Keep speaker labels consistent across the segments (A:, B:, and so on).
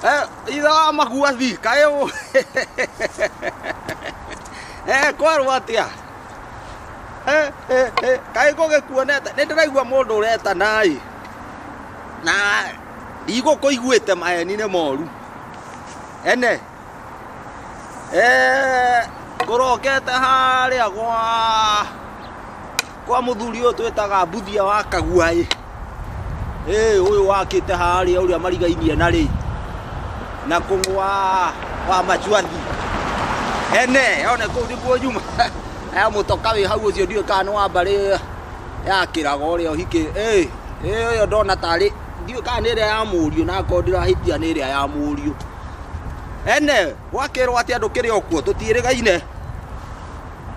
A: Eh, itha maguathi kaĩ ũ eh, kwarwo atĩa Eh, eh, eh, kaĩ ngũgĩkuonete nĩ ndĩraigua mũndũ ũretanaĩ na ndigũkũiguĩte maheni nĩ moru ene eh, ngũrokete harĩa gwa kwa muthuri uyu twitaga mbuthia wa kaguai eh uyu wakite haria uria marigainie na ri na kungwa wa machuathi ene one kuu niguo nyuma aya mutoka wi hau ucio ndiwe kana wa mbari ya kiraga uria uhiki eh eh uyo ndona tari ndiwe kana ni iria ya muriu na ko ndirahitia ni iria ya muriu ene gwakirwo ati andu kiri okuo tutirigaine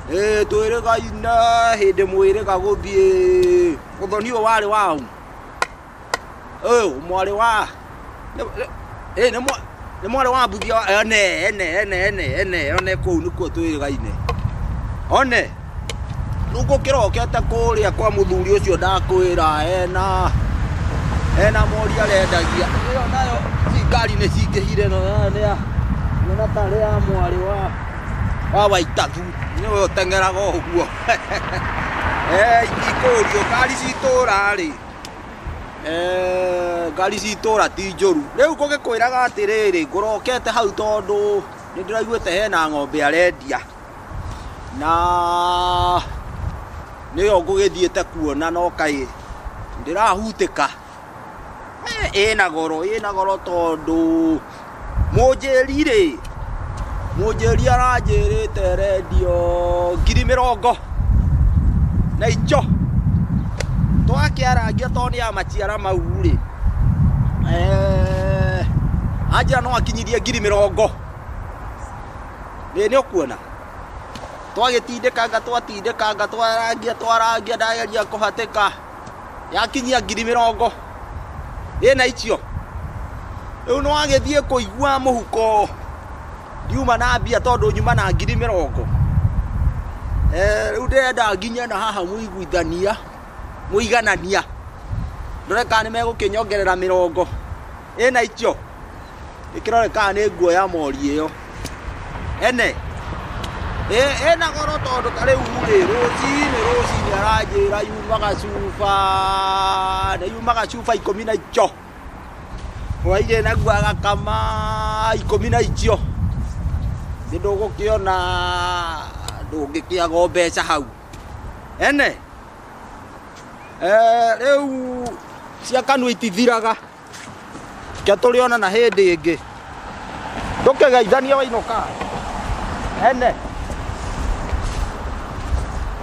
A: Eh, twĩrĩgai na hĩndĩ mwĩrĩga gũthiĩ ũthoni ũyũ warĩ wa u ũyũ mwarĩ wa nĩ- nĩ- ĩ, nĩ mwa- nĩ mwarĩ wa mbuthia wa- ene ene ene ene ene one kũu nĩkuo twĩrĩgaine one rĩu gũkĩrokete kũrĩa kwa mũthuri ũcio ndakwĩra ena ena mori arendagia ĩyo nayo ci ngari nĩ cingĩhire no nĩ ya nĩ na tarĩ ya mwarĩ wa Wawa itathu nĩ we ũteng'eraga ũguo Eh, ingĩkũũrio ngari citũra rĩ Eh, ngari citũra ti njũru rĩu ngũgĩkwĩraga atĩrĩrĩ ngũrokete hau tondũ nĩ ndĩraiguĩte hena ng'ombe arendia na nĩyo ngũgĩthiĩte kuona no kaĩ ndĩrahutĩka ĩna goro ĩna goro tondũ mũnjĩri rĩ mũnjĩri aranjĩrĩte rendio ngiri mĩrongo na icho twakĩarangia tondũ nĩ ya maciara mau rĩ eh, anjĩra no akinyithie ngiri mĩrongo nĩ ũkuona twagĩtindĩkanga twatindĩkanga twarangia twarangia ndageria kũhatĩka yakinyia ngiri mĩrongo ĩna icio rĩu nĩ wagĩthiĩ kũigua mũhuko ndiuma na mbia tondũ nyuma na ngiri mĩrongo Eh, rĩu ndĩrenda nginye na haha mũiguithania mũiganania ndore kana nĩ megũkĩnyongerera mĩrongo ĩna icio Ĩkĩrore kana nĩ nguo ya mori ĩyo. Ene. Ĩ ĩna goro tondũ ta rĩu rĩ rũcinĩ rũcinĩ aranjĩra yumaga cuba na yumaga cuba ikũmi na icio. Hwainĩ naguo agakama ikũmi na icio. Nĩ ndũgũkĩona ndũngĩkĩaga o mbeca hau. Ene. Eh, rĩu cia kanua itithiraga. Ke tũrĩ onana hĩndĩ ĩngĩ. Ndũkĩgeithanie wainũka. Ene.